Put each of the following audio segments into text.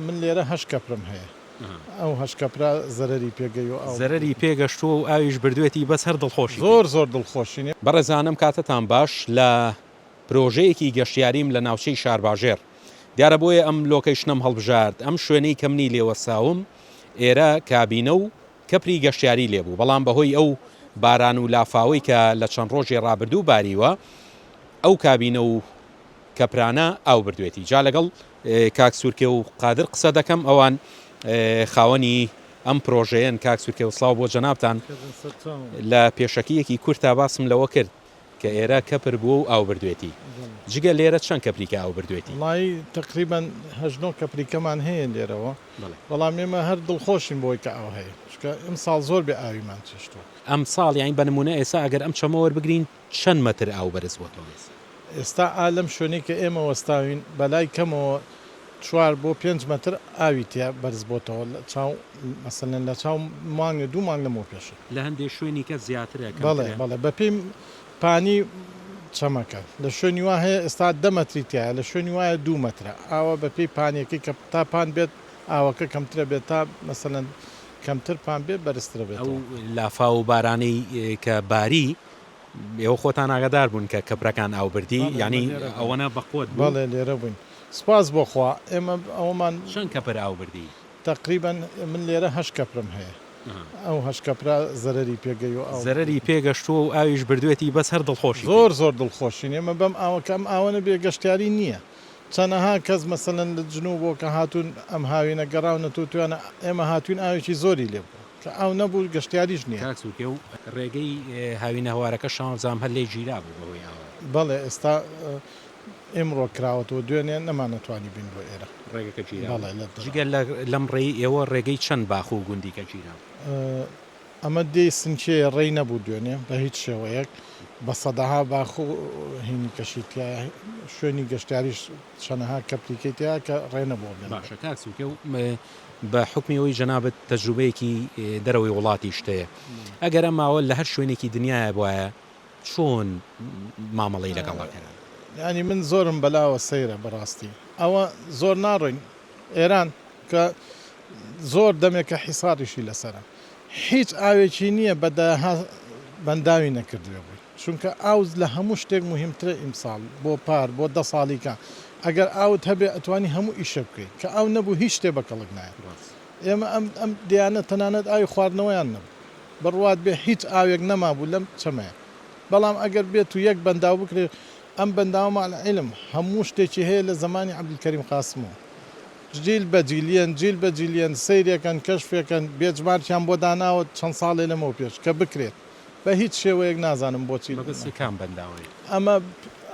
من لێرە هەشت کەپرم هەیە ئەو هەشت کەپرە زەرەری پێ گەیوە ئاو بردووە. زەرەری پێ گەشتووە و ئاویش بردووێتی بەس هەر دڵخۆشی پێ. زۆر زۆر دڵخۆشین. بەڕێزانم کاتتان باش لە پرۆژەیەکی گەشتیاریم لە ناوچەی شارباژێڕ دیارە بۆیە ئەم لۆکەیشنەم هەڵبژارد ئەم شوێنەی کە منی لێ وەستاوم ئێرە کابینە و کەپری گەشتیاری لێ بوو بەڵام بەهۆی ئەو باران و لافاوەی کە لە چەند ڕۆژی ڕابردوو باریوە ئەو کابینە و کە پرانە ئاو بردوێتی جا لەگەڵ کاک سورکێ و قادر قسە دەکەم ئەوان خاوەنی ئەم پرۆژەیەن کاک سورکێ و سلااو بۆ جەنابان لە پێشەکیەکی کورتا باسم لەوە کرد کە ئێرە کەپر بووە و ئاو بردوێتی جگە لێرە چەند کەپریکە ئاو بردوێتی مای تقریبان هەژنۆ کەپریکەمان هەیە لێرەوە بەڵام ئێمە هەر دڵخۆشین بۆی کە ئاو هەیە شکە ئەم ساڵ زۆر بێ ئاویمان چێشتوە ئەم ساڵ یاین بە نمونە ئێسا ئەگەر ئەم چەمە وەربگرین چەند مەتر ئاو بەرز بۆتەوە؟ ئێستا ئا لەم شوێنەی کە ئێمە وەستاوین بەلای کەمەوە چوار بۆ پێنج مەتر ئاوی تیا بەرز بۆتەوە لە چاو مەسەلەن لە چاو مانگە دوو مانگ لەمەو پێشە. لە هەندێ شوێنیکە زیاترە کەمترە؟ بەڵێ بەڵێ بەپێی پانی چەمەکە لە شوێنی وا هەیە ئێستا دە مەتری تیایە لە شوێنی وایە دوو مەترە ئاوە بەپێی پانیەکەی کە تا پان بێت ئاوەکە کەمترە بێت تا مەسەلەن کەمتر پان بێت بەرزترە بێتەوە. ئەو لافاو و بارانەی کە باری. ئێوە خۆتان ئاگادار بوون کە کەپرەکان ئاو بردی؟ یانی ئەوەنە بە قوەت بوو؟ بەڵێ لێرە بووین سوپاس بۆ خوا ئێمە ئەوەمان. چەند کەپر ئاو بردی؟ تەقریبەن من لێرە هەشت کەپرم هەیە ئەو هەشت کەپرە زەرەری پێ گەیو ئاو بردووە. زەرەری پێ گەشتووە و ئاویش بردوێتی بەس هەر دڵخۆشی بووی؟ زۆر زۆر دڵخۆشین ئێمە بەم ئاوە کە ئەم ئاوە نەبێ گەشتیاری نییە. چەنەها کەس مەسەلەن لە جنوب بۆ کە هاتوون ئەم هاوینە گەڕاونەتەوە تویانە ئێمە هاتوین ئاوێکی زۆری لێ بوو کە ئاو نەبوو گەشتیاریش نیە. کاک سووتێ و ڕێگەی هاوینەهەوارەکە شانزە جام هەر لێی گیرابوو بە هۆی ئاوەوە. بەڵێ ئێستا ئیمڕۆ کراوەتەوە دوێنێ نەمانەتوانی بین بۆ ئێرە. ڕێگەکە گیرابوو جگە لەم ڕێی ئێوە ڕێگەی چەند باخ و گوندیکە گیرابوو. ئەمە دێی سنچێیە ڕێی نەبوو دوێنێ بە هیچ شێوەیەک بە سەدەها باخ و هینی کەشی تیایە شوێنی گەشتیاریش چەنەها کەپتیکەی تیا کە ڕێ نەبووە بێنە باشە کاک سووکە و بە حکمی ئەوەی جەنابت تەجروبەیەکی دەرەوەی وڵاتیشت هەیە ئەگەر ئەم ماوە لە هەر شوێنێکی دنیاە بواە چۆن مامەڵەی لەگەڵ ئەکەن ینی من زۆرم بەلاوە سەیرە بەڕاستی ئەوە زۆر ناڕۆین ئێران کە زۆر دەمێکە حیساریشی لەسەرە هیچ ئاوێکی نییە بە دەیەها بەنداوی نەکردوێ بووی چونکە ئاو لە هەموو شتێک مهمترە ئیمساڵ بۆ پار بۆ دە ساڵیکە ئەگەر ئاوت هەبێ ئەتوانی هەموو ئیشە بکەیت کە ئاو نەبوو هیچ شتێ بە کەڵک نایە ئێمە ئەم ئەم دیانە تەنانەت ئاوی خواردنەوەیان نەبوو بڕوات بێ هیچ ئاوێک نەمابوو لەم چەمەیە بەڵام ئەگەر بێت و یەک بەنداو بکرێت ئەم بەنداومە علم هەموو شتێکی هەیە لە زمانی عبدالکەریم قاسمەوە جیل بە جیلیەن جیل بە جیلیەن سەیرێکەن کەشفێکەن بێجمارکیان بۆ داناوە چەند ساڵێ لەمەو پێش کە بکرێت بە هیچ شێوەیەک نازانم بۆچی مەبەستت کام بەنداوەیە؟ ئەمە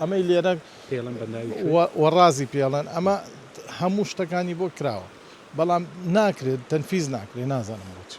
ئەمەی لێرە پێڵن بەنداوی کوێ؟ وە وە ڕازی پێڵن ئەمە هەموو شتەکانی بۆ کراوە بەڵام ناکرێت تەنفیز ناکرێت نازانم بۆچی.